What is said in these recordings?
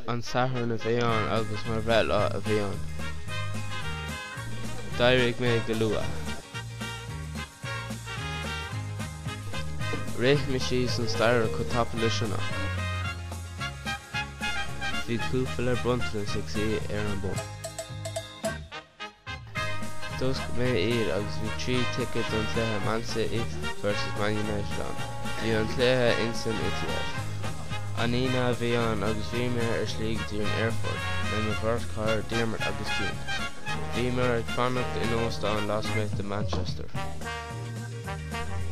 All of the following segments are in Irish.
an Satharn a bhí ann agus mo bhreithlá a bhí ann. D'éirigh mé go luath. Rith mé síos an staighre go tapa le sceitimíní. Bhí cúpla bronntanas ag suí ar an mbord. D'oscail mé iad agus bhí trí ticket don cluiche Man City vs Man United ann. Bhí an cluiche insan Etihad. An Aoine a bhí ann agus bhí mé ar slí go dtí an aerfort le mo bheirt chara Diarmuid agus Cian. Bhíomar ag fanacht in óstán lasmuigh de Manchester.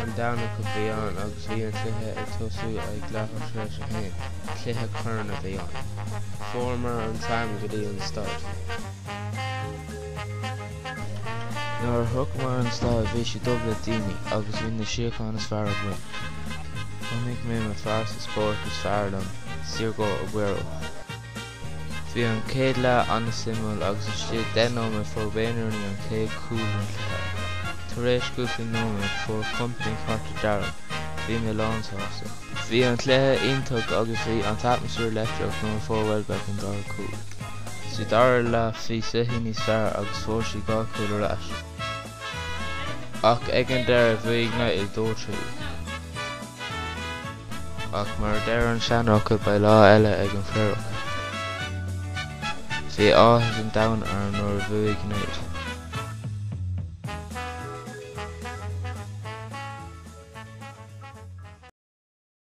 An Domhnach a bhí ann agus bhí an cluiche ag tosú ag leathuair tar éis a haon. Cluiche coirn a bhí ann. Fuaireamar an tram go dtí an staid. Nuair a shroicheamar an staid bhí sé dubh le daoine agus bhí na suíocháin is fearr againn. Chonaic mé mo phearsa spóirt is fearr liom, Sergio Aguero. Bhí an céad leath an-suimiúil agus istigh 10 nóiméad fuair Wayne Rooney an céad cúl den cluiche. Tar éis cúpla nóiméad fuair Kompany cárta dearg. Bhí mé lánsásta. Bhí an cluiche iontach agus bhí an t-atmaisfear leictreach nuair a fuair Welbeck an dara cúl. Sa dara leath bhí City níos fearr agus fuair City dhá chúl ar ais. Ach ag an deireadh bhuaigh United dó trí. Ach mar a deir an seanfhocal beidh lá eile ag an Phaorach. Bhí áthas an domhain orm nuair a bhuaigh United.